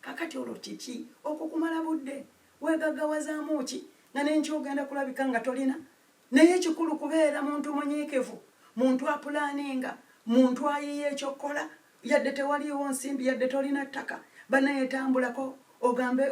kakati olwo kiki okwo kumala budde wegagawazaamu ki nga nenkyogenda kulabika nga tolina naye ekikulu kubeera muntu munyiikivu muntu apulaninga muntu ayiiya ekyokukola yadde tewaliiwo nsimbi yadde tolina ttaka banaye tambulako ogambe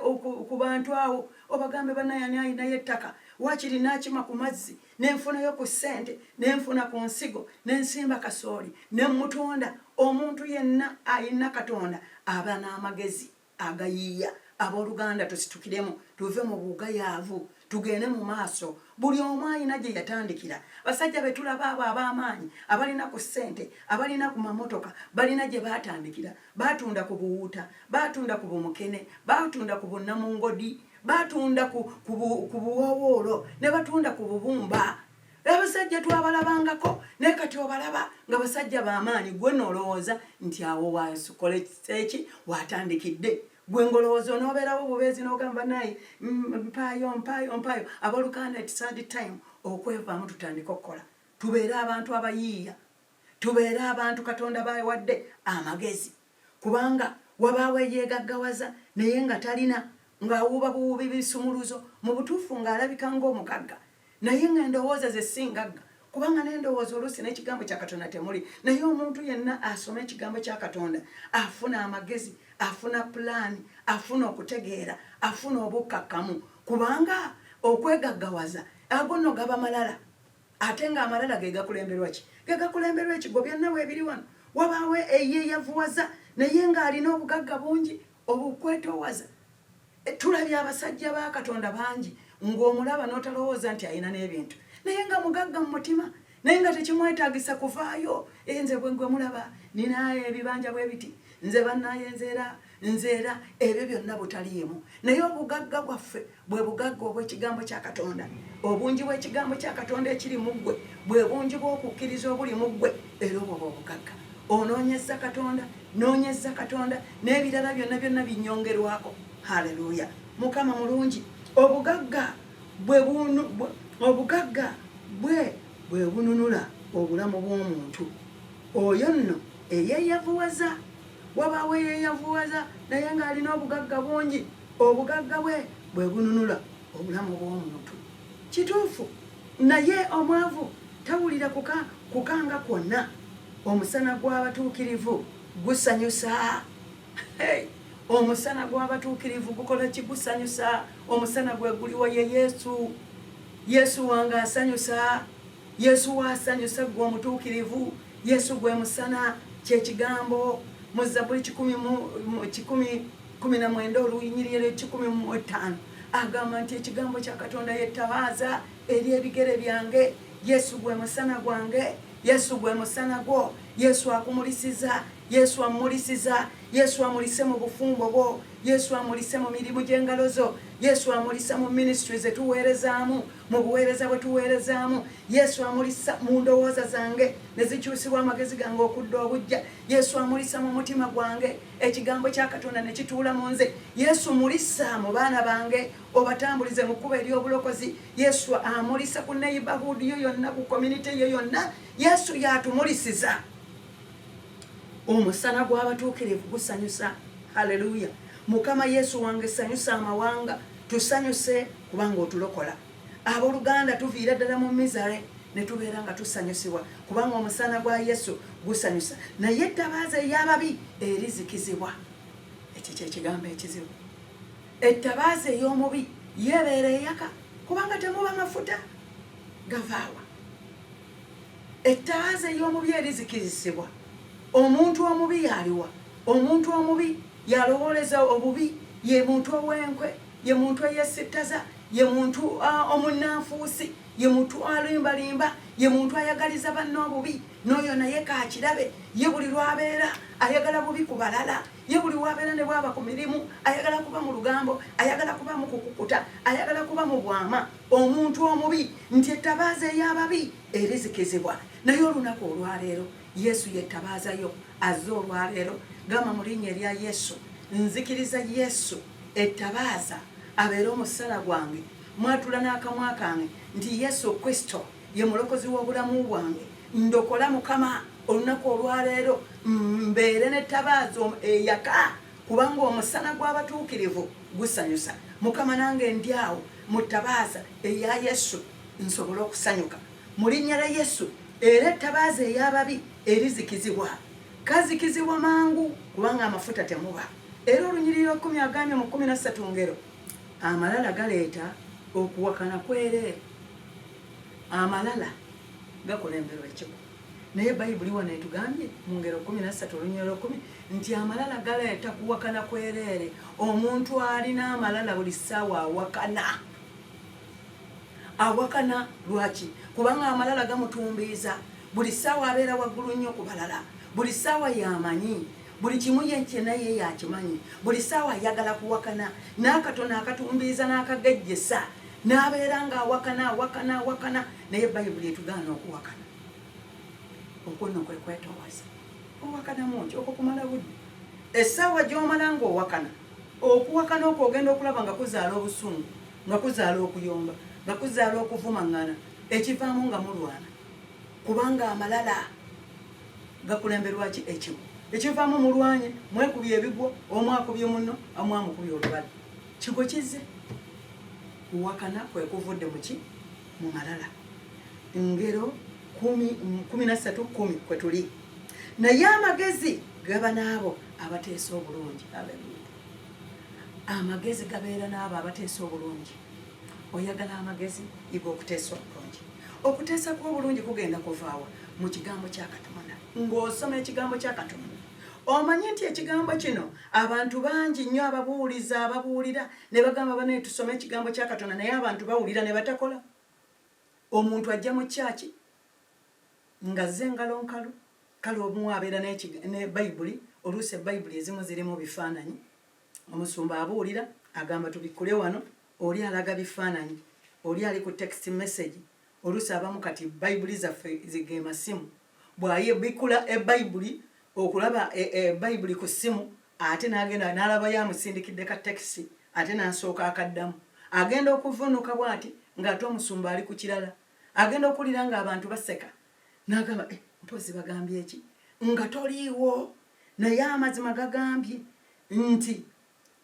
ku bantu awo obagambe banaye ani alinayo ettaka wakiri nakima ku mazzi nenfunayo ku ssente nenfuna ku nsigo nensimba kasooli nemutunda omuntu yenna alina katonda aba n'amagezi agayiiya aboluganda tusitukiremu tuve mu bugayaavu tugende mu maaso buli omu alina gye yatandikira basajja be tulaba abo ab'amaanyi abalina ku ssente abalina ku mamotoka balina gye baatandikira baatunda ku buwuuta baatunda ku bumukene baatunda ku bunnamungodi baatunda ku buwoowoolo ne batunda ku bubumba abasajja twabalabangako naye kati obalaba nga basajja bamaanyi gwe nolowooza nti awo wasikole eki watandikidde gwe ngolowooza onobeerawo bubeezi nogamba naye mm, mpaayo mpaayo mpaayo aboluganda etisad time okwevaamu tutandike okukola tubeere abantu abayiiya tubeere abantu katonda bawadde amagezi kubanga wabaawo eyeegaggawaza naye nga talina ng'awuuba buwuubi bisumuluzo mu butuufu ng'alabika ng'omugagga naye ng'endowooza ze si ngagga kubanga nendowooza oluusi n'ekigambo kya katonda temuli naye omuntu yenna asoma ekigambo kya katonda afuna amagezi afuna pulaani afuna okutegeera afuna obukkakkamu kubanga okwegaggawaza ago nno gaba malala ate nga amalala gegakulemberwa ki gegakulemberwa ekigobya nawe ebiri wano wabaawo eyeyavuwaza naye ng'alina obugagga bungi obukwetowaza e, tulabye abasajja ba katonda bangi ng'omulaba n'otalowooza nti alina n'ebintu naye nga mugagga mu mutima naye nga tekimwetagisa kuvaayo enze bwegwe mulaba ninaye ebibanja bwe biti nze banaye nzeera nze era ebyo byonna butaliimu naye obugagga bwaffe bwe bugagga obw'ekigambo kya katonda obungi bw'ekigambo kya katonda ekiri mu ggwe bwe bungi bw'okukkiriza obuli mu ggwe era obwo bwe obugagga onoonyezza katonda noonyezza katonda n'ebirala byonna byonna binyongerwako haleluya mukama mulungi obugagga bwe obugagga bwe bwe bununula obulamu bw'omuntu oyo nno eyeeyavuwaza Wabaawo eyeeyavuwaza naye ng'alina obugagga bungi, obugagga bwe bwe bununula obulamu bw'omuntu. Kituufu, naye omwavu tawulira kuka kukanga kwonna. Omusana gw'abatuukirivu gusanyusa. Hey! Omusana gw'abatuukirivu gukola ki? Gusanyusa. Omusana gwe guliwa? Ye Yesu. Yesu wange asanyusa. Yesu wasanyusa gwe omutuukirivu. Yesu gwe musana kyekigambo mu Zabuli kikumi kumi na mwenda oluyinyiriro ekikumi mu etaano agamba nti ekigambo kya Katonda yettabaaza eri ebigere byange. Yesu gwe musana gwange. Yesu gwe musana gwo. Yesu akumulisiza. Yesu amulisiza. Yesu amulise mu bufumbo bwo. Yesu amulise mu mirimu gy'engalo zo. Yesu amulise mu minisitule ze tuweerezaamu. Mu buweereza bwe tuweerezaamu, Yesu amulisa mu ndowooza zange ne zikyusibwa amagezi gange okudda obujja. Yesu amulisa mu mutima gwange, ekigambo kya Katonda ne kituula mu nze. Yesu mulisa mu baana bange, obatambulize mu kkubo ery'obulokozi. Yesu amulisa ku neighborhood yo yonna, ku community yo yonna. Yesu y'atumulisiza. Omusana gw'abatuukirivu gusanyusa. Haleluya! Mukama Yesu wange, sanyusa amawanga, tusanyuse. kubanga otulokola aboluganda tuviira ddala mu misare ne tubeera nga tusanyusibwa kubanga omusaana gwa yesu gusanyusa naye ettabaaza ey'ababi erizikizibwa ekyo kyekigambo ekizibu ettabaaza ey'omubi yeebeera eyaka kubanga temuba mafuta gavaawa ettabaaza ey'omubi erizikizisibwa omuntu omubi yaliwa omuntu omubi yalowooleza obubi ye muntu ow'enkwe Ye muntu eyesittaza, ye muntu omunnanfuusi, ye muntu alimbalimba, ye muntu ayagaliza banne obubi, n'oyo naye kaakirabe. Ye buli lw'abeera ayagala bubi ku balala, ye buli w'abeera ne bw'aba ku mirimu ayagala kuba mu lugambo, ayagala kuba mu kukukuta, ayagala kuba mu bwama. Omuntu omubi, nti ettabaaza ey'ababi erizikizibwa. Naye olunaku olwaleero, Yesu ye ttabaaza yo. Azze olwaleero. Gamba mu Linnya erya Yesu, Nzikiriza Yesu. Ettabaaza abeere omussala gwange, mwatula n'akamwa kange nti Yesu Kristo ye mulokozi w'obulamu bwange. Ndokola Mukama olunaku olwaleero mbeere n'ettabaaza eyaka kubanga omusana gw'abatuukirivu gusanyusa. Mukama nange ndi awo mu ttabaaza eya Yesu nsobole okusanyuka mu linnya lya Yesu era ettabaaza ey'ababi erizikizibwa kazikizibwa mangu kubanga amafuta temuba. Era olunyiriri lw'ekkumi agambye mu kkumi na ssatu ngero amalala galeeta okuwakana kwereere. Amalala gakulemberwa ekigo. Naye Bayibuli wano etugambye mu ngero kkumi na ssatu olunyiriri lw'ekkumi nti amalala galeeta kuwakana kwereere. Omuntu alina amalala buli ssaawa awakana. Awakana lwaki? Kubanga amalala gamutumbiiza. Buli ssaawa abeera waggulu nnyo ku balala. Buli ssaawa y'amanyi. buli kimu ye kyena ye yakimanyi buli saawa ayagala kuwakana n'akatono akatumbiiza n'akagejjesa n'abeera nga awakana awakana awakana naye bayibuli etugaana okuwakana okwo no kwe kwetowaza owakanamu nti okwo kumala budde essaawa gy'omala ng'owakana okuwakana okwo ogenda okulaba nga kuzaala obusungu nga kuzaala okuyomba nga kuzaala okuvumaŋŋana ekivaamu nga mulwana kubanga amalala gakulemberwaki ekigo ekivaamu mulwanye mwekubye ebigwo omu akubye munno amu amukubye olubale kigo kizze kuwakana kwekuvudde muki mu malala ngero kumi nassatu kumi kwe tuli naye amagezi gaba n'abo abateesa obulungi amagezi gabeera n'abo abateesa obulungi oyagala amagezi yiga okuteesa obulungi okuteesa kuba obulungi kugenda kuvaawa mu kigambo kya katonda ng'osoma ekigambo kya katonda omanyi nti ekigambo kino abantu bangi nnyo ababuuliza ababuulira ne bagamba banaye tusome ekigambo kya katonda naye abantu bawulira ne batakola omuntu ajja mu kyaki nga ze ngalo nkalu kale omu abeera ne bayibuli oluusi ebayibuli ezimu zirimu bifaananyi Omusumba abuulira agamba tubikkule wano, oli alaga bifaananyi, oli ali ku text message, oluusi abamu kati Bayibuli zaffe ge masimu. Bw'abikkula Bayibuli, okulaba Bayibuli ku ssimu ate n'agenda n'alabayo amusindikidde ka tekisi ate n'asooka akaddamu. Agenda okuvvuunuka bw'ati ng'ate omusumba ali ku kirala. Agenda okuwulira ng'abantu baseka n'agamba, eh, mpozzi bagambye ki? Nga toliiwo, naye amazima gagambye. Nti,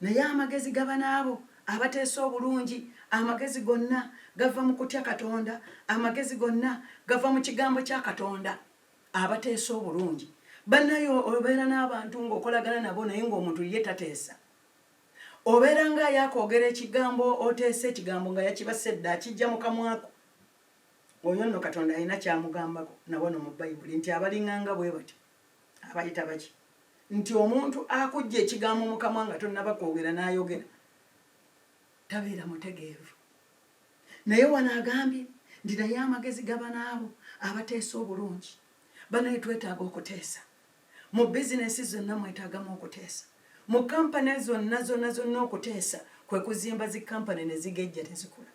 Naye amagezi gaba n'abo abateesa obulungi, amagezi gonna gava mu kutya Katonda, amagezi gonna gava mu Kigambo kya Katonda. Abateesa obulungi. Bannaaye, obeera n'abantu ng'okolagana nabo naye ng'omuntu ye tateesa. Obeera nga yakoogera ekigambo, oteesa ekigambo nga yakibase dda, akijja mu kamwako. Oyo nno Katonda alina ky'amugambako na wano mu Bayibuli nti abaling'anga bwe batyo. abayita baki nti omuntu akujja ekigambo mukamwa nga tonaba kwogera nayogera tabeera mutegeevu naye wano agambye nti naye amagezi gabanaabo abateesa obulungi banaye twetaaga okuteesa mu bizinesi zonna mwetaagamu okuteesa mu kampani zonna zonna zonna okuteesa kwe kuzimba zi kampani ne zigejja tezikula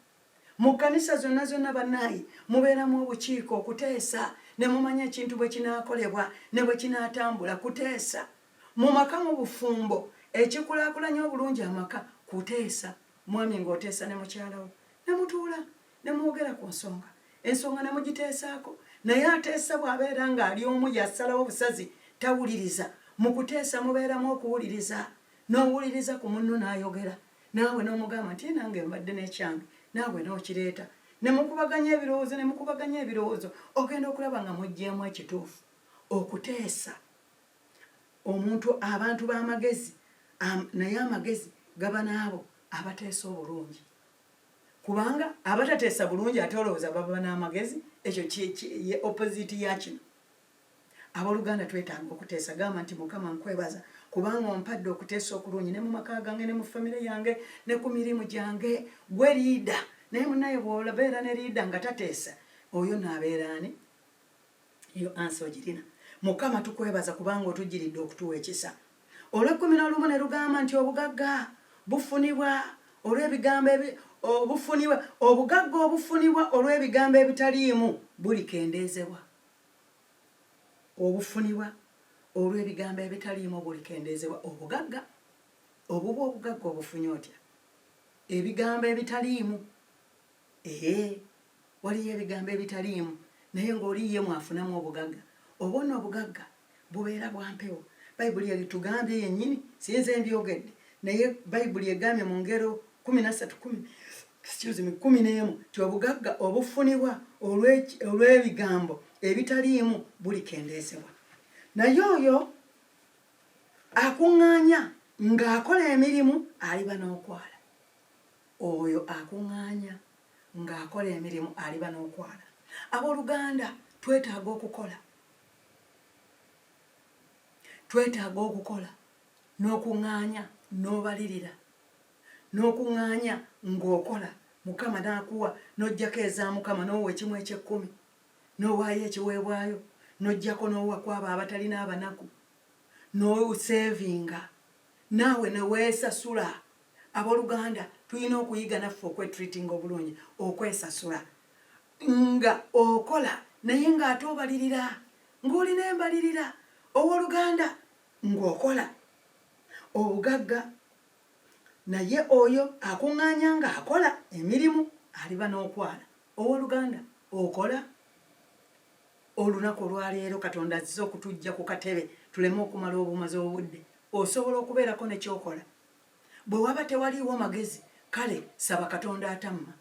Mu kkanisa zonna zonna, bannaaye, mubeeramu obukiiko, okuteesa, ne mumanya ekintu bwe kinaakolebwa ne bwe kinaatambula. Kuteesa. Mu maka, mu bufumbo, ekikulaakulanya obulungi amaka, kuteesa. Mwami nga oteesa ne mukyala wo, ne mutuula, ne mwogera ku nsonga, ensonga ne mugiteesaako. Naye ateesa bw'abeera nga ali omu y'asalawo obusazi, tawuliriza. Mu kuteesa mubeeramu okuwuliriza, n'owuliriza ku munno n'ayogera. naawe n'omugamba nti nange mbadde n'ekyange naawe n'okireeta ne mukubaganya ebirowoozo ne mukubaganya ebirowoozo ogenda okulaba nga muggyemu ekituufu okuteesa omuntu abantu b'amagezi naye amagezi gaba n'abo abateesa obulungi kubanga abatateesa bulungi ate olowooza baba n'amagezi ekyo ye opposite ya kino Aboluganda twetaaga okuteesa. Gamba nti, Mukama nkwebaza kubanga ompadde okuteesa okulungi ne mu maka gange ne mu famire yange ne ku mirimu gyange. Gwe liida. Naye munaye bwolabeera ne liida nga tateesa, oyo no abeera ani? Eyo ansa ogirina. Mukama tukwebaza kubanga otujjiridde okutuwa ekisa. Olw'ekkumi n'olumu ne lugamba nti obugagga bufunibwa olw'ebigambo ebi obufunibwa obugagga obufunibwa olw'ebigambo ebitaliimu bulikendeezebwa. obufunibwa olw'ebigambo ebitaliimu bulikendeezebwa obugagga obubwo. Obugagga obufunye otya ebigambo ebitaliimu? Ee, waliyo ebigambo ebitaliimu, naye ng'oli ye mw'afunamu obugagga. Obwo nno obugagga. Bubeera bwa mpewo. Bayibuli eritugambye yennyini, si nze mbyogedde, naye Bayibuli egambye mu ngero kkumi na ssatu kkumi excuse me kkumi n'emu nti obugagga obufunibwa olw'ebigambo ebitaliimu bulikendeezebwa naye oyo akuŋŋaanya ng'akola emirimu aliba n'okwala oyo akuŋŋaanya ng'akola emirimu aliba n'okwala abooluganda twetaaga okukola twetaaga okukola n'okuŋŋaanya n'obalirira n'okuŋŋaanya ng'okola Mukama n'akuwa n'oggyako eza Mukama n'owa ekimu eky'ekkumi n'owaayo ekiweebwayo n'oggyako n'owa kw'abo abatalina abanaku n'oseevinga naawe ne weesasula abooluganda tulina okuyiga naffe okwetreatinga obulungi okwesasula Nga okola naye nga ate obalirira, nga olina embalirira, owoluganda, nga okola. Obugagga, naye oyo akuŋŋaanya nga akola emirimu aliba n'okwala. Owoluganda, okola? Olunaku olwa leero Katonda azze okutuggya ku katebe tuleme okumala obumazi obudde. Osobola okubeerako ne ky'okola? Bwe waba tewaliiwo magezi, kale saba Katonda atamma.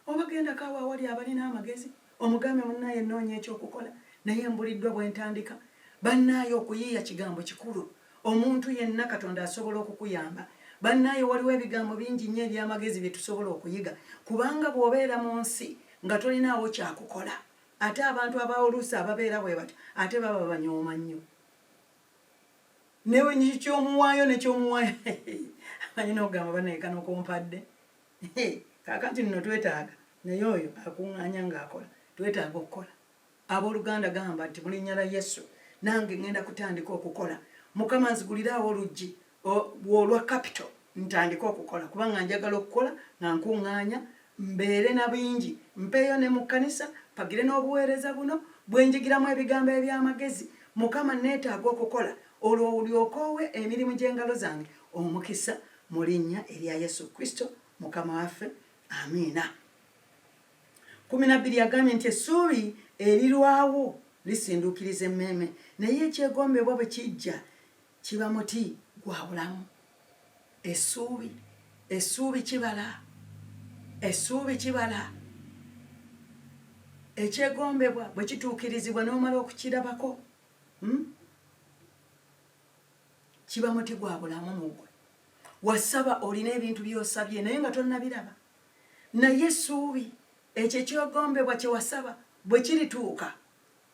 Oba gendako awo awali abalina amagezi omugambe munaye noonya ekyokukola naye mbuliddwa bwentandika banaye okuyiiya kigambo kikulu omuntu yenna katonda asobola okukuyamba banaye waliwo ebigambo bingi nnyo ebyamagezi byetusobola okuyiga kubanga bwobeera munsi nga tolinaawo kyakukola ate abantu abaoluusi ababeera bwebatyo ate baba banyooma nnyo newe kyomuwaayo nekyomuwaayo ayina okugamba banaye kano kompadde Hee kakati nno twetaaga naye oyo akungaanya nga akola twetaaga okukola aboluganda gamba nti mulinya lya yesu nange ngenda kutandika okukola mukama nzigulire awo oluggi olwa capital ntandike okukola kuba nga njagala okukola nga nkungaanya mbeere na bingi mpeeyo ne mu kkanisa pagire n'obuweereza buno bwenjigiramu ebigambo eby'amagezi mukama neetaaga okukola olwo olyoka owe emirimu gy'engalo zange omukisa Mu linnya erya Yesu Kristo Mukama waffe, amiina. Kumi na bbiri yagambye nti essuubi erirwawo lisinduukiriza emmeeme, naye ekyegombebwa bwe kijja kiba muti gwa bulamu. Essuubi, essuubi kibala, essuubi kibala. Ekyegombebwa bwe kituukirizibwa n'omala okukirabako, hmm? kiba muti gwa bulamu mu gwe wasaba olina ebintu byosabye naye nga tonnabiraba naye essuubi ekyo ekyogombebwa kye wasaba bwe kirituuka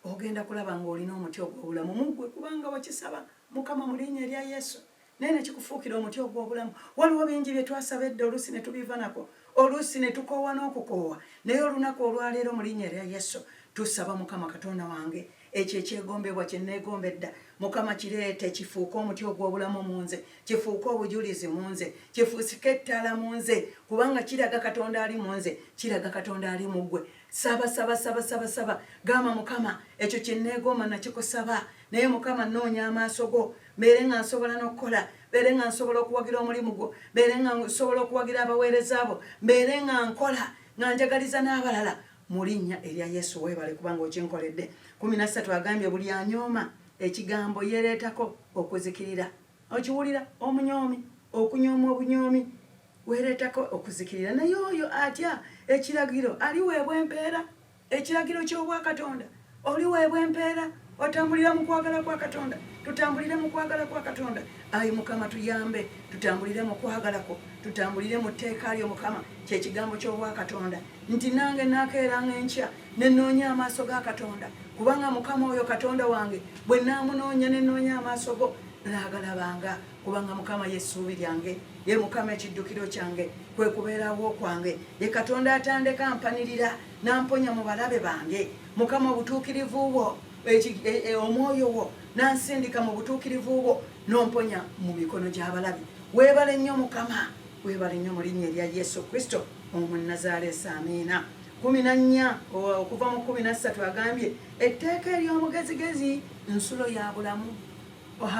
ogenda kulaba ng'olina omuti ogw'obulamu mu gwe kubanga wakisaba mukama mu linnya erya yesu naye ne kikufuukira omuti ogw'obulamu waliwo bingi bye twasaba edda oluusi ne tubiva nako oluusi ne tukoowa n'okukoowa naye olunaku olwaleero mu linnya erya yesu tusaba mukama katonda wange Ekyo ekyegombebwa kye nneegomba edda, Mukama, kireete kifuuke omuti ogw'obulamu mu nze, kifuuke obujulizi mu nze, kifuusike ettaala mu nze, kubanga kiraga Katonda ali mu nze, kiraga Katonda ali mu ggwe. Saba, saba, saba, saba, saba. Gamba, Mukama, ekyo kye nneegomba nakikusaba, naye Mukama, nnoonya amaaso go, mbeere nga nsobola n'okukola mbeere nga nsobola okuwagira omulimu gwo mbeere nga nsobola okuwagira abaweereza bo mbeere nga nkola nga njagaliza n'abalala Mulinya erya yesu webale kubanga okinkoledde kumi nassatu agambye buli anyooma ekigambo yereetako okuzikirira okiwulira omunyoomi okunyooma obunyoomi wereetako okuzikirira naye oyo atya ekiragiro aliweebwa empeera ekiragiro ky'obwakatonda oliweebwa empeera otambulira mu kwagala kwa katonda tutambulire mu kwagala kwa katonda ayi mukama tuyambe tutambulire mu kwagalako tutambulire mu tteeka lyo mukama kyekigambo ky'obwakatonda nti nange naakeeranga enkya nenoonya amaaso ga katonda kubanga mukama oyo katonda wange bwe naamunoonya nenoonya amaaso go naagalabanga kubanga mukama yesuubi lyange ye mukama ekiddukiro kyange kwe kubeerawo kwange ye katonda atandeka mpanirira namponya mu balabe bange mukama obutuukirivu bwo e, e, omwoyo wo nansindika mu butuukirivu bwo nomponya mu mikono gy'abalabe weebale nnyo mukama weebale nnyo mu linnya erya yesu kristo omunazaaleesi amiina kumi na nnya okuva mu kumi na ssatu agambye etteeka ery'omugezigezi nsulo ya bulamu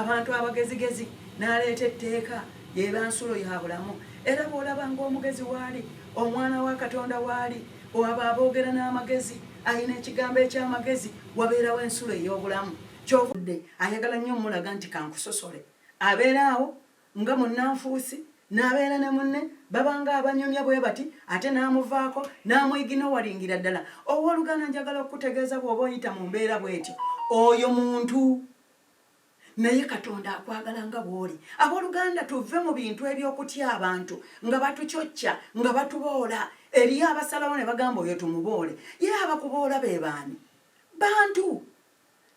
abantu abagezigezi n'aleeta etteeka yeeba nsulo ya bulamu era bw'olaba ng'omugezi waali omwana wa katonda waali oaba aboogera n'amagezi alina ekigambo eky'amagezi wabeerawo ensulo ey'obulamu kyovudde ayagala nnyo omulaga nti kankusosole abeera awo nga munnanfuusi n'abeera ne munne babanga abanyumya bwe bati ate n'amuvaako n'amwigina owalingira ddala owooluganda njagala okukutegeeza bw'oba oyita mu mbeera bw'etyo oyo muntu naye katonda akwagala nga bw'oli abooluganda tuve mu bintu eby'okutya abantu nga batucocca nga batuboola eriyo abasalawo ne bagamba oyo tumuboole ye abakuboola be baani bantu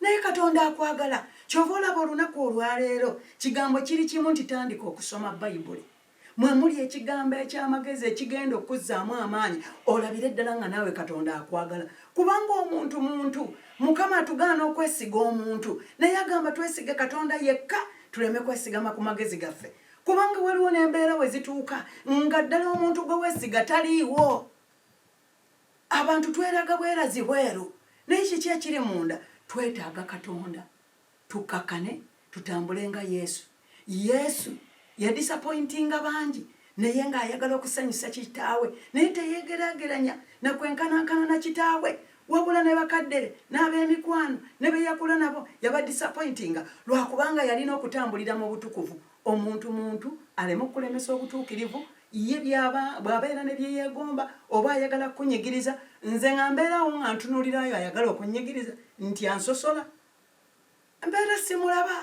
naye katonda akwagala kyova olaba olunaku olwaleero kigambo kiri kimu nti tandika okusoma bayibuli mwe muli ekigambo eky'amagezi ekigenda okukuzzaamu amaanyi olabire ddala nga naawe katonda akwagala kubanga omuntu muntu mukama atugaana okwesiga omuntu naye agamba twesige katonda yekka tuleme kwesigama ku magezi gaffe kubanga waliwo n'embeera we zituuka nga ddala omuntu gwe wesiga taliiwo abantu tweraga bwerazi bweru naye kiki ekiri munda twetaaga katonda Tukkakkane tutambule nga Yesu. Yesu yadisapointinga bangi naye ng'ayagala okusanyusa Kitaawe, naye teyeegeraageranya na kwenkanankana na Kitaawe. Wabula ne bakadde be n'ab'emikwano ne be yakula nabo yabadisapointinga lwa kubanga yalina okutambulira mu butukuvu omuntu muntu aleme okulemesa obutuukirivu. Ye by'aba bw'abeera ne bye yeegomba oba ayagala kukunyigiriza, nze nga mbeera awo nga ntunuulira oyo ayagala okunnyigiriza nti ansosola mbeera simulaba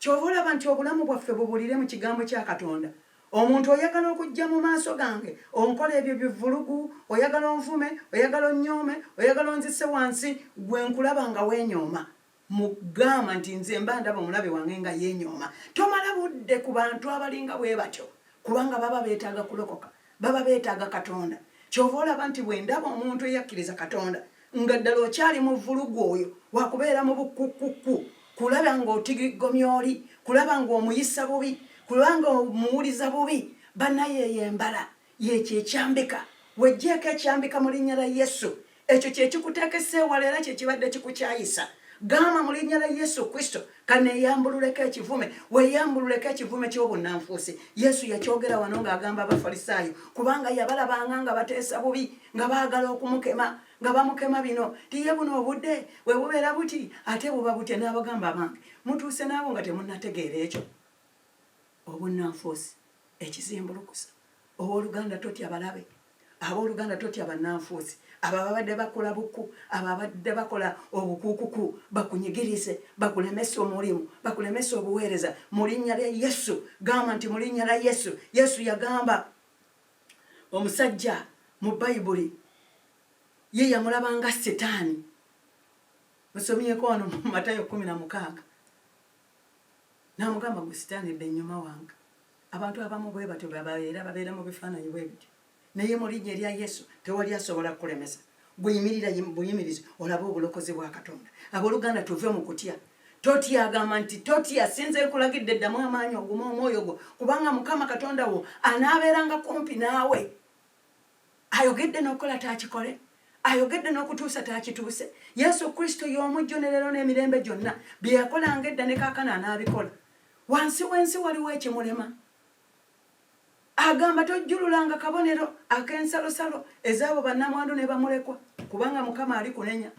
kyova olaba nti obulamu bwaffe bubulire mu kigambo kya katonda omuntu oyagala okujja mu maaso gange onkola ebyo bivulugu oyagala onvume oyagala onyoome oyagala onzise wansi gwe nkulaba nga wenyooma mugamba nti nze mba ndaba omulabe wange nga yenyooma tomala budde ku bantu abalinga bwe batyo kubanga baba beetaaga kulokoka baba beetaaga katonda kyova olaba nti bwendaba omuntu eyakkiriza katonda nga ddala okyali mu vvulugu oyo wakubeera mu bukkukkukku kulaba ng'otigigomya oli kulaba ng'omuyisa bubi kulanga omuwuliza bubi banayeyo embala yekyo ekyambika wejjeeko ekyambika mu linnya lya yesu ekyo kyekikuteekesa ewala era kyekibadde kikukyayisa gamba mu linnya lya yesu kristo kaneeyambululeko ekivume weeyambululeko ekivume ky'obunnanfuusi yesu yakyogera wano ng'agamba abafalisaayo kubanga yabalabanga nga bateesa bubi nga baagala okumukema nga bamukema bino tiye buno obudde bwe bubeera buti ate buba butya n'abagamba abange mutuuse naabo nga temunnategeera ekyo obunnanfuusi ekizimbulukusa Ow'oluganda, totya balabe. Ab'oluganda, totya bannanfuusi, abo ababadde bakola buku, abo ababadde bakola obukuukuku, bakunyigirize, bakulemese omulimu, bakulemese obuweereza. Mu Linnya lya Yesu, gamba nti, Mu Linnya lya Yesu. Yesu yagamba omusajja mu Bayibuli, ye yamulaba nga Sitaani. Musomyeko wano mu Matayo kumi na mukaaga. N'amugamba, Ggwe Sitaani, dda ennyuma wange. Abantu abamu bwe batyo bwe babeera, babeera mu bifaananyi bwe bityo. Naye mu linnya erya Yesu tewali asobola kukulemesa. Gwe yimirira buyimirizi olabe obulokozi bwa Katonda. Abooluganda, tuve mu kutya. Totya, agamba nti totya, sinze nkulagidde, ddamu amaanyi, ogume omwoyo gwo, kubanga Mukama Katonda wo anaabeeranga kumpi naawe. ayogedde n'okukola taakikole ayogedde n'okutuusa taakituuse yesu kristo y'omujjo ne leero n'emirembe gyonna bye yakolanga edda ne kaakana anaabikola wansi w'ensi waliwo ekimulema agamba tojjululanga kabonero ak'ensalosalo ez'abo bannamwandu ne bamulekwa kubanga mukama ali kunenya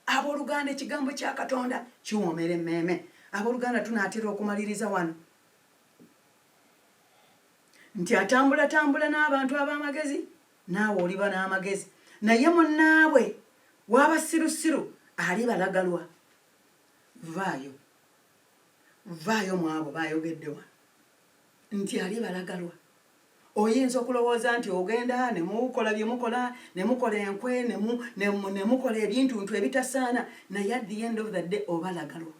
abooluganda ekigambo kya katonda kiwoomera emmeeme abooluganda tunaatera okumaliriza wano Nti atambulatambula n'abantu ab'amagezi, naawe oliba n'amagezi, naye munnaabwe w'abasirusiru alibalagalwa. Vvaayo, vvaayo mu abo b'ayogedde wano nti alibalagalwa. Oyinza okulowooza nti ogenda ne mukola bye mukola, ne mukola enkwe, ne mukola ebintuntu ebitasaana, naye at the end of the day obalagalwa.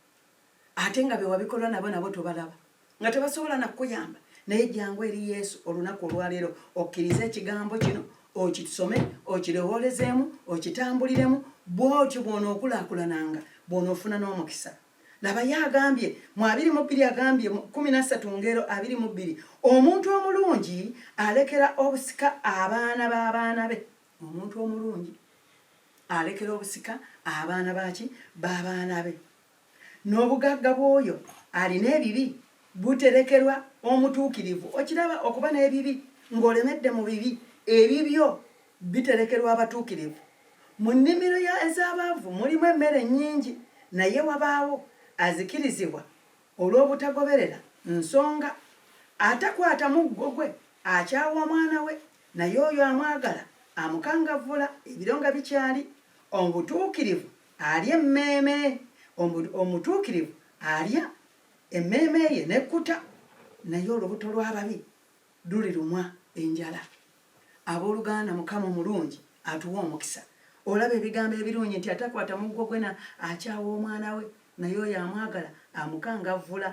Ate nga bewabikolwa nabo nabo tobalaba nga tebasobola nakuyamba naye jangu eri Yesu olunaku olwaleero okkirize ekigambo kino okisome okirewoolezemu okitambuliremu bwotyo bwonookulakulananga bwonoofuna n'omukisa laba ye agambye mu abiri mu bbiri agambye kumi nassatu ngero abiri mu bbiri omuntu omulungi alekera obusika abaana b'abaana be omuntu omulungi alekera obusika abaana baki b'abaana be N'obugagga bw'oyo alina ebibi buterekerwa omutuukirivu. Okiraba, okuba n'ebibi, nga olemedde mu bibi, ebibyo biterekerwa abatuukirivu. Mu nnimiro ya, ez'abaavu mulimu emmere nnyingi, naye wabaawo azikirizibwa olw'obutagoberera nsonga. Atakwata muggo gwe akyawa mwana we, naye oyo amwagala amukangavvula, ebiro nga bikyali, obutuukirivu Alya emmeeme, omu, omutuukirivu alya emmeeme ye n'ekkuta, naye olubuto lw'ababi lulirumwa enjala. Abooluganda, Mukama omulungi atuwa omukisa. Olaba ebigambo ebirungi nti, Atakwata muggo gwe na, akyawa omwana we, naye oyo amwagala amukangavvula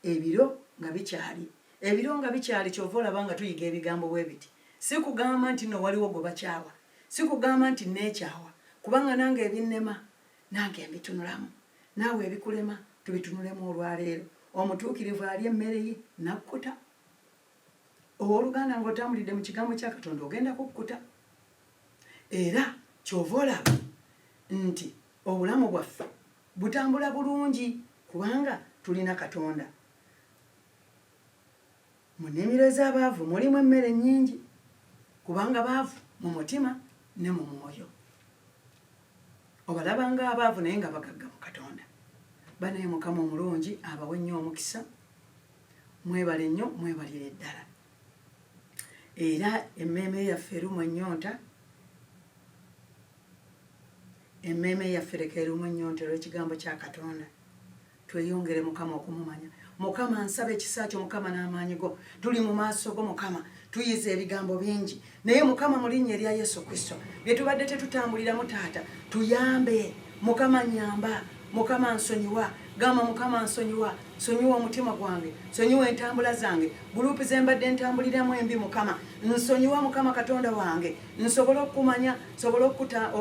ebiro nga bikyali. Ebiro nga bikyali, ky'ova olaba nga tuyiga ebigambo bwe biti. Si kugamba nti nno waliwo gwe bakyawa. Sikugamba nti nneekyawa kubanga nange ebinnema nange mbitunulamu. Naawe ebikulema tubitunulemu olwaleero. Omutuukirivu alya emmere ye n'akkuta. Ow'oluganda ng'otambulidde mu kigambo kya Katonda ogenda kukkuta. Era ky'ova olaba nti obulamu bwaffe butambula bulungi kubanga tulina Katonda. Mu nnimiro ez'abaavu mulimu emmere nnyingi, kubanga baavu mu mutima ne mu mwoyo. Obalaba ng'abaavu naye nga bagagga mu Katonda. Banaye Mukama omulungi abawe nnyo omukisa. Mwebale nnyo, mwebalire ddala. Era emmeeme yaffe erumwa ennyonta, emmeeme yaffe leka erumwe ennyonta olw'ekigambo kya Katonda. Tweyongere mukama okumumanya mukama nsaba ekisa kyo mukama n'amaanyi go tuli mu maaso go mukama tuyize ebigambo bingi naye mukama mu linnya erya yesu kristo bye tubadde tetutambuliramu taata tuyambe mukama nyamba mukama nsonyiwa gamba mukama nsonyiwa sonyiwa omutima gwange sonyiwa entambula zange gulupu zembadde entambuliramu embi mukama nsonyiwa mukama katonda wange nsobole okukumanya nsobole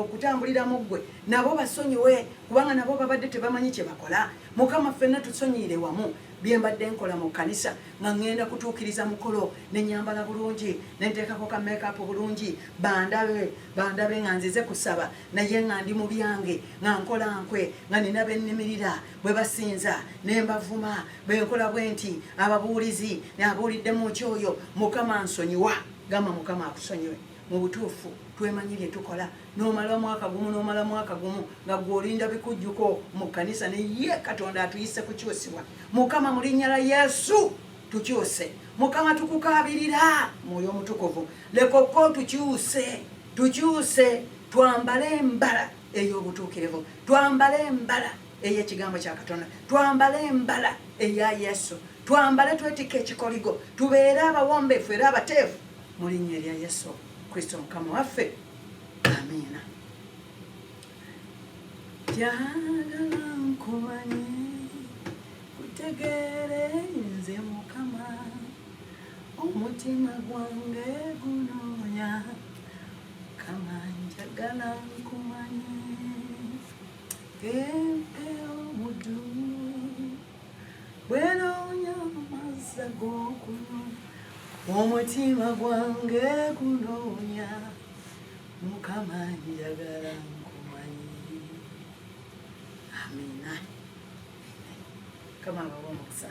okutambulira mu ggwe Nabo basonyiwe kubanga nabo babadde tebamanyi kyebakola. Mukama ffenna tusonyiyire wamu byembadde nkola mu kkanisa nga ngenda kutuukiriza mukolo ne nyambala bulungi ne nteekako ka makeup bulungi bandabe bandabe nga nzize kusaba naye nga ndi mu byange nga nkola nkwe nga nina bennimirira bwe basinza ne mbavuma bwe nkola bwe nti ababuulizi abuulidde mu ki oyo mukama nsonyiwa gamba mukama akusonyiwe mu butuufu twemanyi bye tukola nomala mwaka gumu nomala mwaka gumu nga gwolinda bikujjuko mu kanisa naye katonda atuyise kukyusibwa mukama mu linnya la yesu tukyuse mukama tukukabirira mwoyo omutukuvu leka okka otukyuse tukyuse twambale embala ey'obutuukirivu twambale embala ey'ekigambo kya katonda twambale embala eya yesu twambale twetikka ekikoligo tubeere abawombeefu era abateefu mu linnya erya yesu kristo mukama waffe amiina jagala nkumanye kutegeere nze mukama omutima gwange gunoonya kama njagala nkumanye empewo mudumu bwenoonya amazzi ag'okunywa omutima gwange gunoonya mukama njagala nkumanyi amina kama abawa omukisa